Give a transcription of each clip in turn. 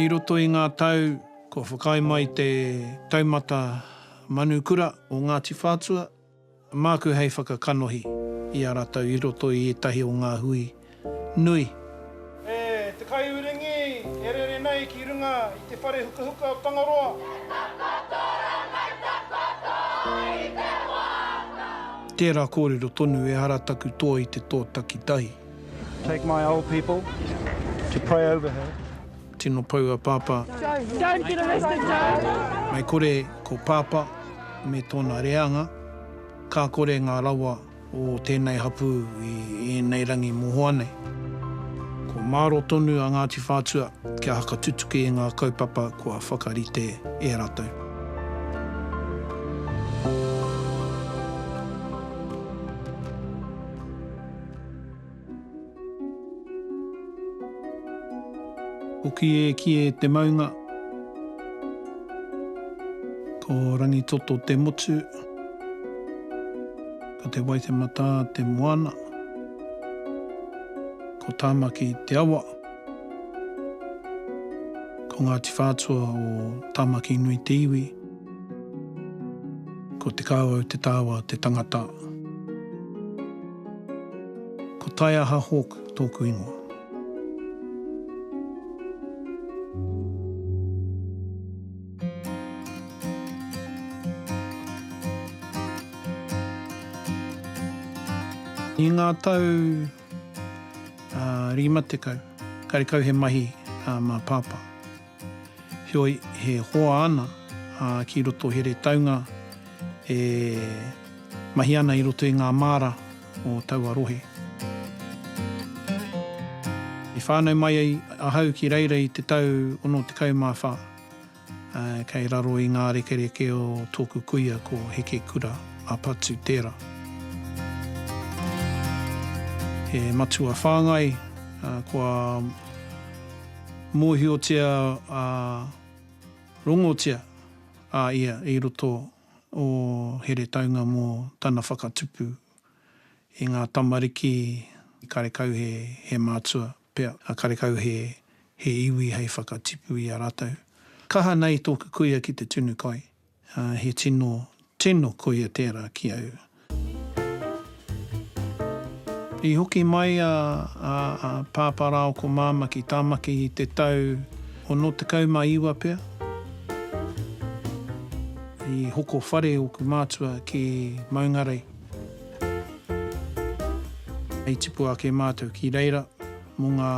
I roto i ngā tau kua whakaae mai te taumata Manu Kura o Ngāti Whātua, māku hei whakakanohi i a ratou i roto i ētahi o ngā hui nui. E te kaiuringi e rere nei ki runga i te whare hukahuka o Tangaroa. He takoto rā mai takoto i te wānau. Tērā kōrero tonu ehara taku toa i te toa takitahi. Take my old people to pray over her. Tino pou a Pāpā. Don't get arrested Joe. Mai kore ko Pāpā me tōna reanga, ka kore ngā rawa. o tēnei hapū i ēnei rangi mohoa nei. Kua māro tonu a Ngāti Whātua kia hakatutuki i ngā kaupapa kua whakarite e rātou. Hoki e ki e te maunga. Ko Rangitoto te motu. Ko Te Waitematā te moana. Ko Tāmaki te awa. Ko Ngāti Whātua o Tāmaki nui te iwi. Ko Te Kāwau te tāwā te tangata. Ko Taiaha Hawke tōku ingoa. I ngā tau rima tekau, karekau he mahi mā Pāpā. Heoi, he hoa ana ki roto Heretaunga e mahi ana i roto i ngā māra o taua rohe. I whānau mai ai ahau ki reira i te tau 64, kei raro i ngā rekereke o tōku kuia ko Heke Kura a Patu tērā. He matua whāngai kua. Mōhiotia ā, rongotia a ia i roto o Heretaunga mō tana whakatupu i ngā tamariki karekau he, he mātua pea, ā, karekau he, he iwi hei whakatipu i a rātou. Kaha nei tōku kuia ki te tunu kai. He tino, tino koia tērā ki au. I hoki mai a, a, a Pāpā Rāo ko Māmā ki Tāmaki i te tau ono tekau ma iwa pea. I hoko whare oku mātua ki Maungarei. I tipu ake mātou ki reira mo ngā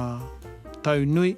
tau nui.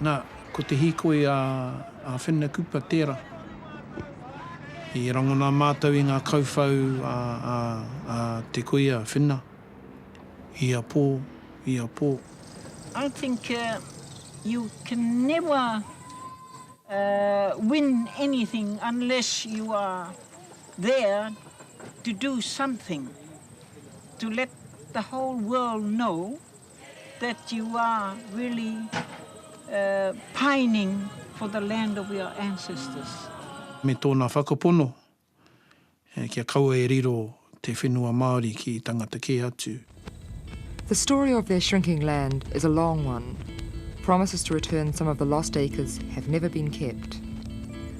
Na, ko te hīkoi a Whenukupa tēra. I rangona mātou i ngā kauwhau a te koi a Whena, ia pō, ia pō. I think you can never win anything unless you are there to do something, to let the whole world know. that you are really pining for the land of your ancestors. Me tōna whakapono kia kaua e riro te whenua Māori ki tangata kē atu. The story of their shrinking land is a long one. Promises to return some of the lost acres have never been kept.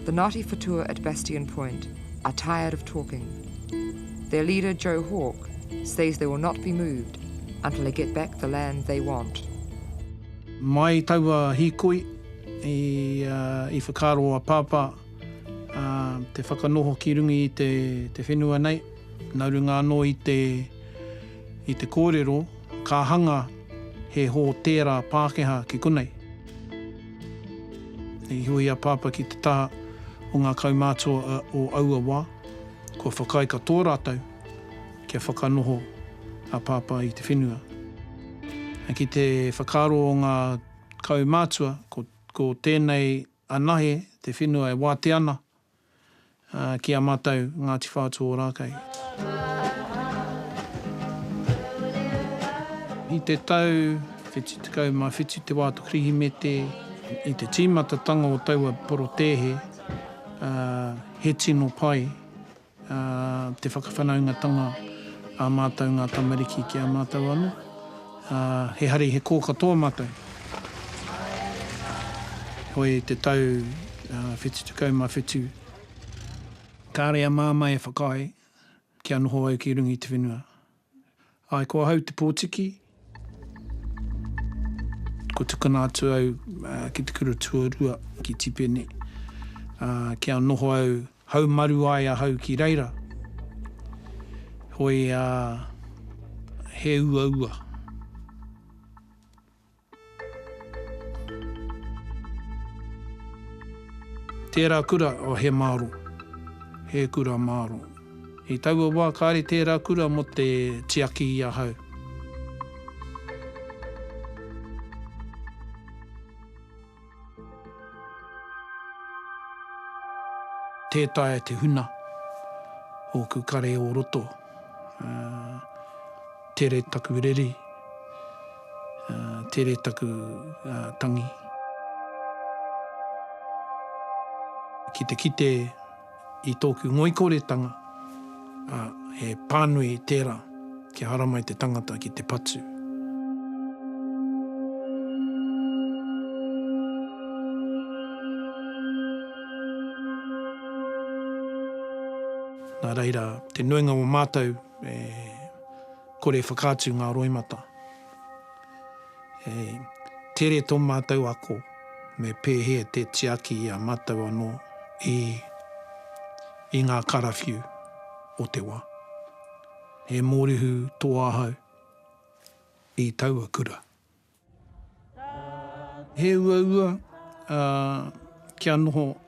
The Ngāti Whatua at Bastion Point are tired of talking. Their leader Joe Hawke says they will not be moved until they get back the land they want. Mai taua hīkoi i whakaaro a Pāpā te whakanoho ki runga i te whenua nei, nā runga anō i te kōrero ka hanga he hōtēra Pākehā ki konei. I hua i a Pāpā ki te taha o ngā kaumātua o aua wā. Kua whakaae katoa rātou kia whakanoho a Pāpā i te whenua. Ki te whakaaro o ngā kaumātua, ko, ko tēnei anahe te whenua e wātea ana ki a mātou Ngāti Whātua Ōrākei. I te tau 77 te wā o te Kirihimete, i te tīmatatanga o taua porotēhe, ā, He tino pai te whakawhanaungatanga a mātou ngā tamariki ki a mātou anō. He hari, he kō katoa mātou. Heoi, i te tau 77, kāre a Māmā e whakaae kia noho au ki runga i te whenua. Ae, ko ahau te potiki. Ko tukuna atu au ki te kura tuarua, ki Tipene, kia noho au, haumaru ai ahau ki reira. Hoi a, he uaua. Tērā kura, oh he māro, he kura māro. I taua wā kāre tērā kura mō te tiaki i ahau. Tē taea te huna ōku kare o roto, tere taku reri, tere taku tangi. Ki te kite. I tōku ngoikoretanga, ā, he pānui tērā kia haramai te tangata ki te patu. Nā reira, te nuinga o mātou e kore whakaatu ngā roimata. Hei tere tō mātou ako me pēhea te tiaki i a mātou anō i i ngā karawhiu o te wā. He mōrehu tō ahau i taua kura. He uaua kia noho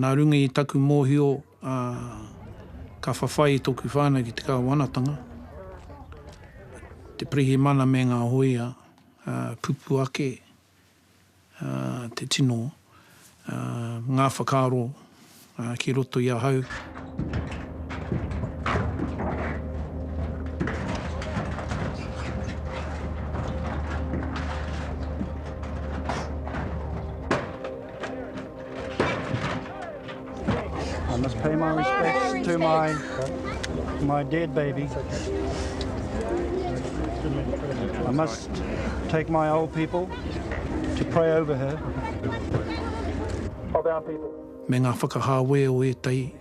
Nā runga i taku mōhio, ka whawhai tōku whānau ki te kāwanatanga, te pirihimana me ngā hōia kupu ake, te tino ngā whakaaro ki roto i ahau. I must pay my respects to my my dead baby. I must take my old people to pray over her. Of our people. Me ngā whakahāwē o ētahi.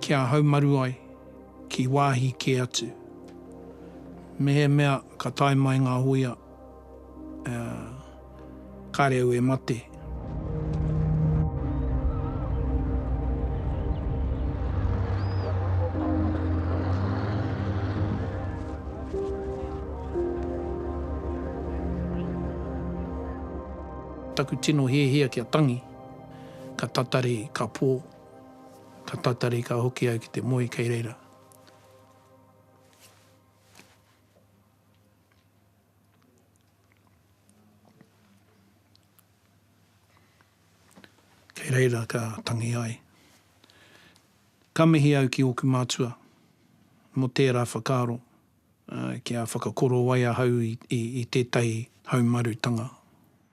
kia haumaru ai ki wāhi kē atu. Mehemea ka tae mai ngā hōia, kāre au e mate. Taku tino hiahia kia tangi. Ka tatari, ka pō. Ka tatari, ka hoki au ki te moe kei reira. Kei reira ka tangi ai. Ka mihi au ki ōku mātua mō tērā whakaaro kia whakakorowai ahau i tētahi haumarutanga.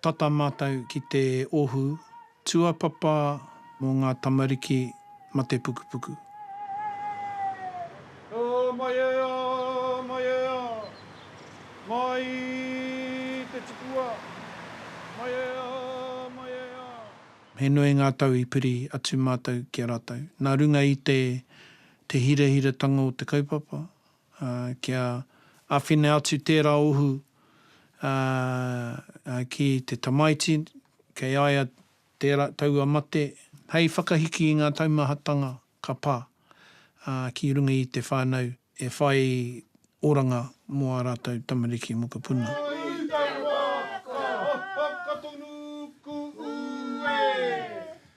Tata mātou ki te ohu tuapapa mō ngā tamariki matepukupuku. Ā, mai ea, mai ea, mai te tipua, mai ea, mai ea. He nui ngā tau i piri atu mātou ki a rātou. Nā runga i te, te hirahiratanga o te kaupapa, kia awhina atu tērā ohu ki te tamaiti kei a ia tērā taua mate, hei whakahiki i ngā taumahatanga ka pā ki runga i te whānau e whai oranga mō ā rātou tamariki mokopuna.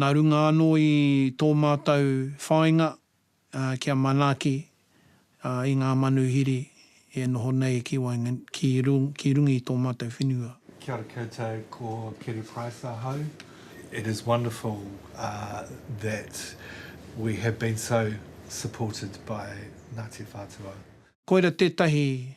Nā runga anō i tō mātou whāinga kia manaaki i ngā manuhiri e noho nei ki waengan, ki rung, ki runga i tō mātou whenua. Kia ora koutou, ko Kerry Price ahau. It is wonderful that we have been so supported by Ngāti Whātua. Koira tētahi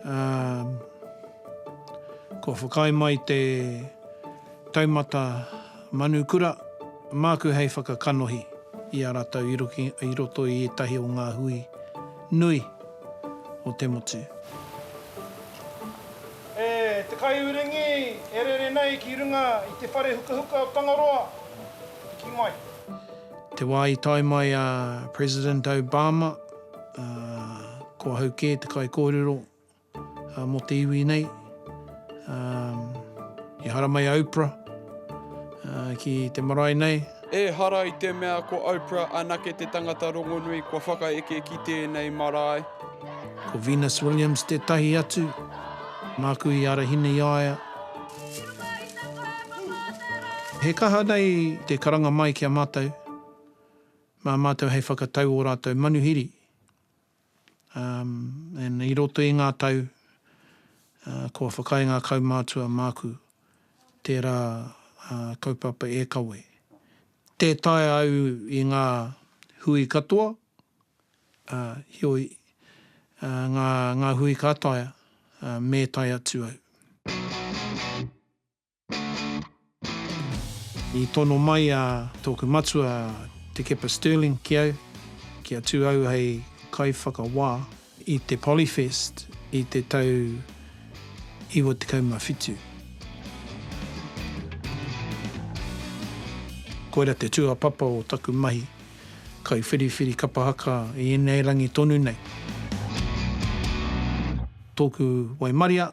Ā, kua whakaae mai te taumata manu kura māku hei whakakanohi i a ratou i roto i ētahi o ngā hui nui o te motu. E te kaiuringi e rere nei ki runga i te whare hukahuka o Tangaroa, piki mai. Te wā i tae mai a President Obama, Ko ahau kē te kaikōrero mō te iwi nei. Ehara mai a Oprah ki te marae nei. Ehara i te mea ko Oprah anake te tangata rongonui kua whakaeke ki tēnei marae. Ko Venus Williams tētahi atu. Māku i arahina i a ia. He kaha nei te karanga mai ki a mātou. Mā mātou hei whakatau ō rātou manuhiri, um, i roto i ngā tau, uh, kua whakaae ngā kaumātua māku tērā uh, kaupapa e kawe. Tē taea au i ngā hui katoa, uh, heoi, uh, ngā, ngā hui ka taea, uh, me tae atu au. I tono mai a tōku matua Te Kepa Stirling ki au kia tū au hei kaiwhakawā i te Polyfest i te tau 97. Koira te tūāpapa o taku mahi kaiwhiriwhiri kapa haka i ēnei rangi tonu nei. Tōku waimaria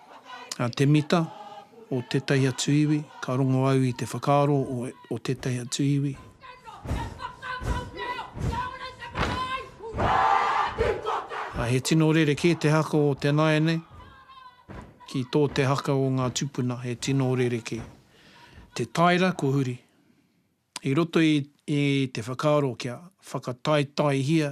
a te mita o tētahi atu iwi, ka rongo au i te whakaaro o tētahi atu iwi. Ā, he tino rerekē te haka o te nāianei ki tō te haka o ngā tūpuna, he tino rerekē. Te taera ko huri. I roto i te whakaaro kia whakataetaehia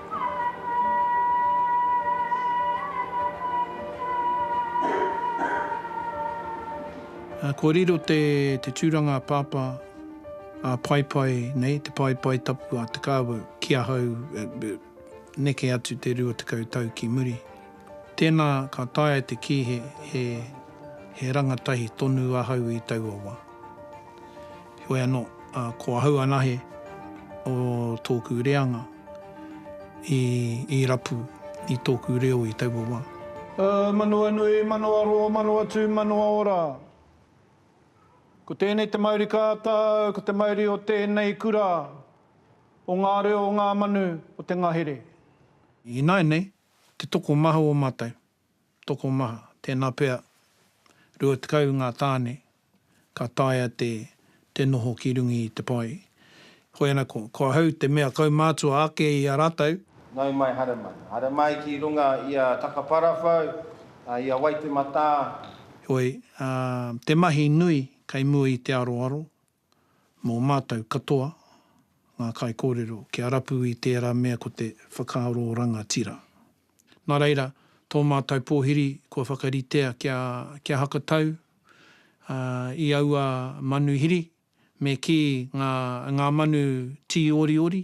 Kua riro te tūranga a Pāpā, a Paepae nei, te paepae tapu a Te Kāwau ki ahau neke atu te rua tekau tau ki muri. Tēnā ka taea te kī he rangatahi tonu ahau i taua wā. Heoi anō, ko ahau anahe o tōku reanga i rapu i tōku reo i taua wā. Manawa nui, manawa roa, manawa tū, manawa ora. Ko tēnei te mauri kātau, ko te mauri o tēnei kura, o ngā reo, o ngā manu, o te ngahere. Ināianei, te tokomaha o mātou. tokomaha, tēnā pea, 20 ngā tāne ka taea te te noho ki runga i te pae. Hoi ana ko, ko ahau te mea kaumātua ake i a rātou. Nau mai, haere mai. Haere mai ki runga i a Takaparawhau, a, i a Waitematā. Heoi, ā, te mahi nui kei mua i te aroaro, Mō mātou katoa, ngā kaikōrero, kia rapu i tērā mea ko te whakaaro o rangatira. Nā reira, tō mātou pōhiri kua whakaritea kia, kia hakatau, ā, i aua manuhiri, me kī ngā, ngā manu tīoriori,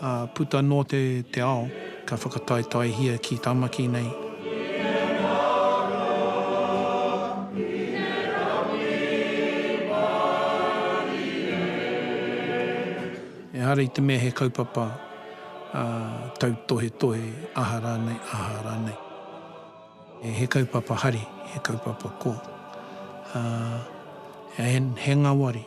Ā, puta nō te, te ao, ka whakataetaehia ki Tamaki nei. Ehara i te mea he kaupapa, ā, tautohetohe, aha rānei, aha rānei. He kaupapa hari, he kaupapa ko, ā, he, he ngawari.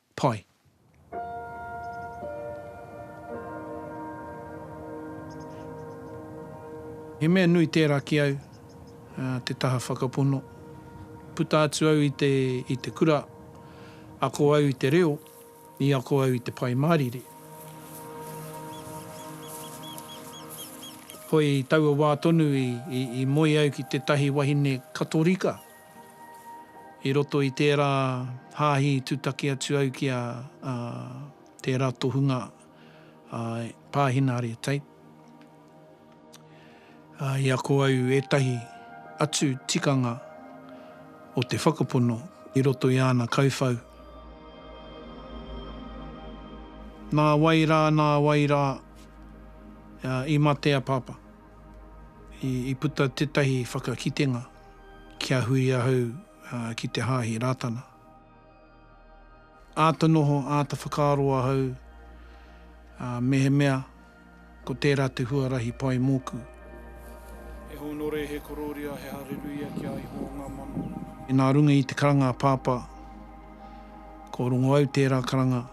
pai. He mea nui tērā ki au, te taha whakapono. Puta atu au i te, i te kura, ako au i te reo, i ako au i te Pai Mārire. Hoi taua wā tonu i, i, i moe au ki tētahi wahine Katorika. I roto i tērā hāhi i tūtaki atu au ki a tērā tohunga pāhina haria tape. I ako au ētahi atu tikanga o te whakapono i roto i āna kauwhau. Nā wai rā, nā wai rā, i mate a Pāpā. I puta tētahi whakakitenga. kia hui ahau ki te hāhi Rātana. Āta noho, āta whakaaro ahau mehemea ko tērā te huarahi pai mōku. He hōnore, he korōria, he hareruia ki a Ihowa ngā mano. Nā runga i te karanga a Pāpā, ko Rongoau tērā karanga,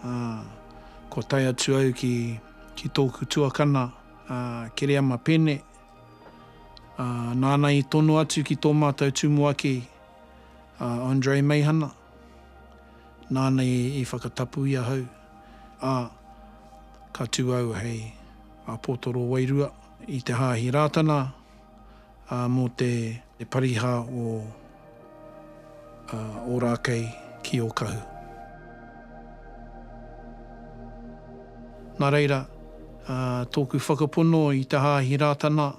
ā, kua tae atu au ki tōku tuakana, Kereama Pene. Ā, nāna i tono atu ki tō mātou tumuaki a Andrei Meihana, nāna i whakatapu i ahau, ā, ka tū au hei Apotoro wairua i te Hāhi Rātana, ā, mō te Pariha o. a Ōrākei ki Ōkahu. Nā reira, tōku whakapono i te Hāhi Rātana,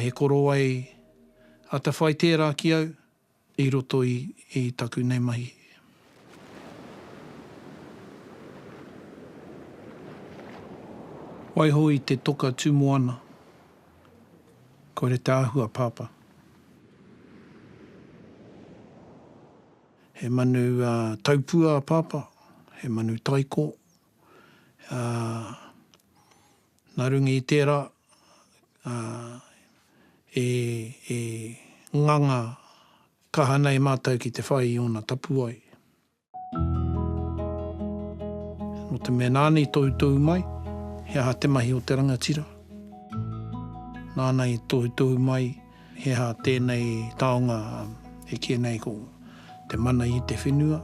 he korowai atawhai tērā ki au i roto i taku nei mahi. Waiho i te toka tū moana, kore te āhua pāpā. He manu taupua a Pāpā, he manu taiko. Nā runga i tērā, e nganga kaha nei mātou ki te whai i ōna tapuwae. Nō te mea nāna i toutou mai, he aha te mahi o te rangatira? Nāna i toutou mai, he aha tēnei taonga e kī nei ko te mana i te whenua?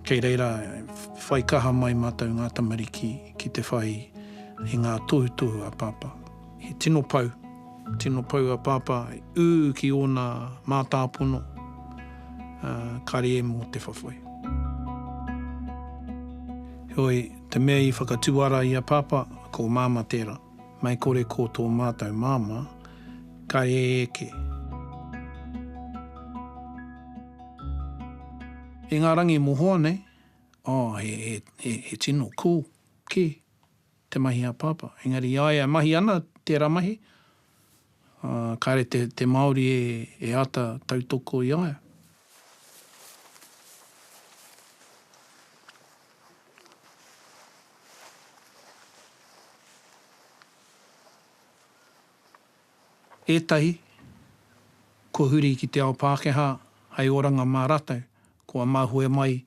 Kei reira e whai kaha mai mātou ngā tamariki ki te whai i ngā tohutohu a Pāpā. He tino pou, tino pou a Pāpā i ū ki ōna mātāpono, ā, kāre e mō te whawhai. Heoi, te mea i whakatuara i a Pāpā, ko Māmā tērā, mei kore ko tō mātou Māmā, ka ē eke. E ngā rangi mohoa nei, oh, he, he, he, he tino cool, kē. te mahi a Pāpā. Engari i a ia e mahi ana tērā mahi, ā, kāre te, te Māori e, e āta tautoko i a ia. Ētahi, kua huri ki te ao Pākehā hei oranga mā rātou, kua mahue mai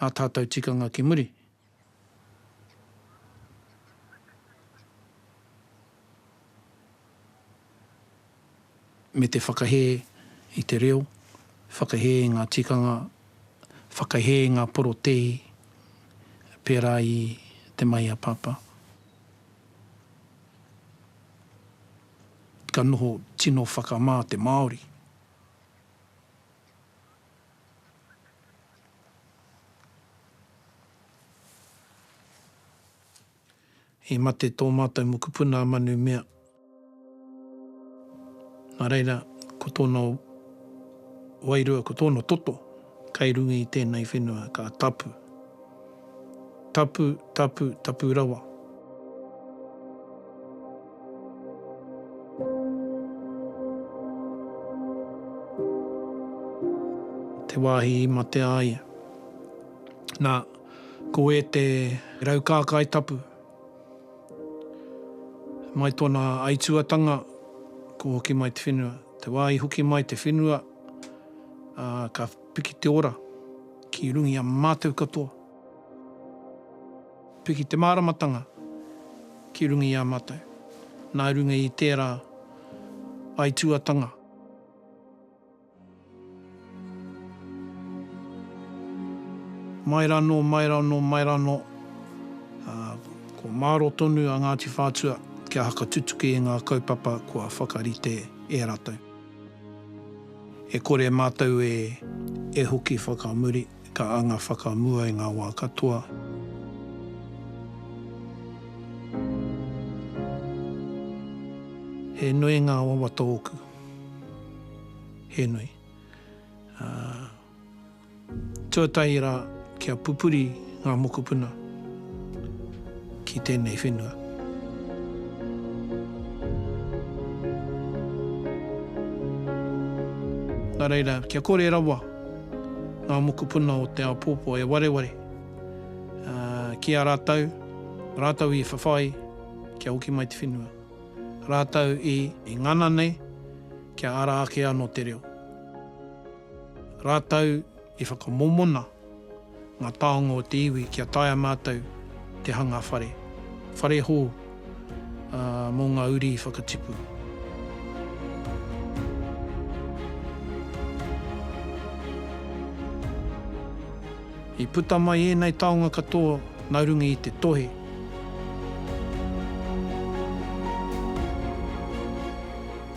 ā tātou tikanga ki muri. me te whakahē i te reo, whakahē i ngā tikanga, whakahē i ngā porotēhi pērā i Te Mahi a Papa. Ka noho tino whakamā te Māori. I mate tō mātou mokopuna a Manu Mea. Nā reira, ko tōna wairua, ko tōna toto kei runga i tēnei whenua ka tapu. Tapu, tapu, tapu rawa. Te wāhi i mate a ia. Nā, ko ē te rau kākai tapu. Mai tōna aituatanga, ko hoki mai te whenua. Te wā i hoki mai te whenua, ā, ka. Piki te ora ki rungi a mātou katoa. Piki te māramatanga ki runga i a mātou. Nā runga i tērā aituatanga. Mai ranō, mai ranō, mai ranō, ā, kua māro tonu a Ngāti Whātua kia hakatutuki i ngā kaupapa kua whakarite e ratou. E kore mātou e, e hoki whakamuri, ka anga whakamua i ngā wā katoa. He nui ngā wawata ōku. He nui. Ā. Tuatahi rā, kia pupuri ngā mokopuna ki tēnei whenua. Nā reira, kia kore rawa ngā mokopuna o te āpōpō e wareware ki a rātou, rātou i whawhai kia hoki mai te whenua, rātou i ngana nei kia ara ake anō te reo. Rātou i whakamomona ngā taonga o te iwi kia taea mātou te hanga whare, whare hou, ā, mō ngā uri whakatipu. I puta mai ēnei taonga katoa nā runga i te tohe.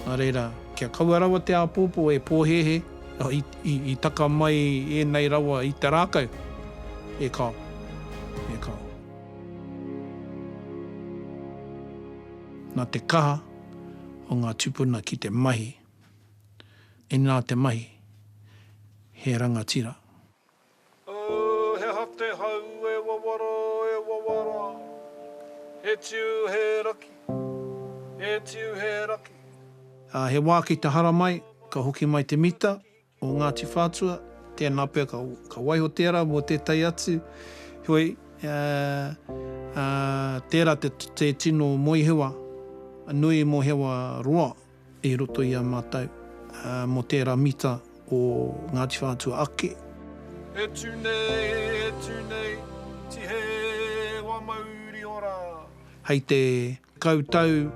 Nā reira. Kia kaua rawa te āpōpō e pōhēhē, i taka mai ēnei rawa i te rākau, e kāo, e kāo. Nā te kaha o ngā tūpuna ki te mahi, inā te mahi, he rangatira. Oh, he aha te hau e wawara, e wawara He tiu, he raki, he tiu, he raki. Ā, he wā ki te hara mai, ka hoki mai te mita o Ngāti Whātua, tēnā pea ka, ka waiho tērā mō tētahi atu, heoi, ā, ā, tērā te, te tino moehewa nui, moehewa roa. i roto i a mātou mō tērā mita o Ngāti Whātua ake. E tū nei, e tū nei, Tihewa Mauriora. Hei te tekau tau,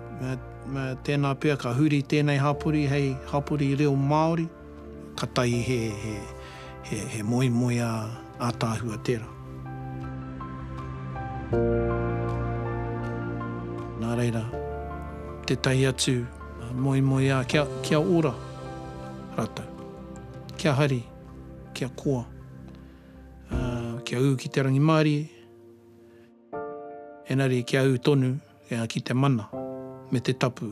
tēnā pea ka huri tēnei hapori hei hapori reo Māori. Katai he, he, he, he moemoeā ātaahua tērā. Nā reira, tētahi atu moemoeā kia, kia ora rātou. Kia hari, kia koa, ā, kia ū ki te rangimārie, engari kia ū tonu ki te mana me te tapu.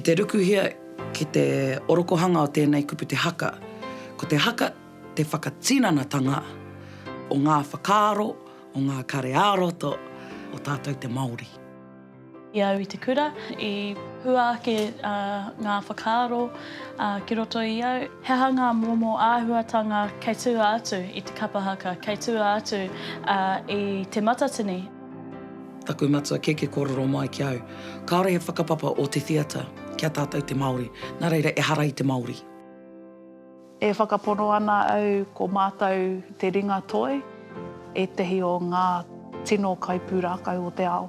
Ki te rukuhia ki te orokohanga o tēnei kupu te haka, ko te haka te whakatinanatanga o ngā whakaaro, o ngā kare ā-roto o tātou te Māori. I au i te kura, i hua ake ngā whakaaro ki roto i au, he aha ngā momo āhuatanga kei tua atu i te kapa haka, kei tua atu i Te Matatini. Taku matua kēkē kōrero mai ki au, kāore he whakapapa o te theatre ki a tātou te Māori, nā reira ehara i te Māori. E whakapono ana au ko mātou te ringa toi, ētahi o ngā tino kaipūrākau o te ao.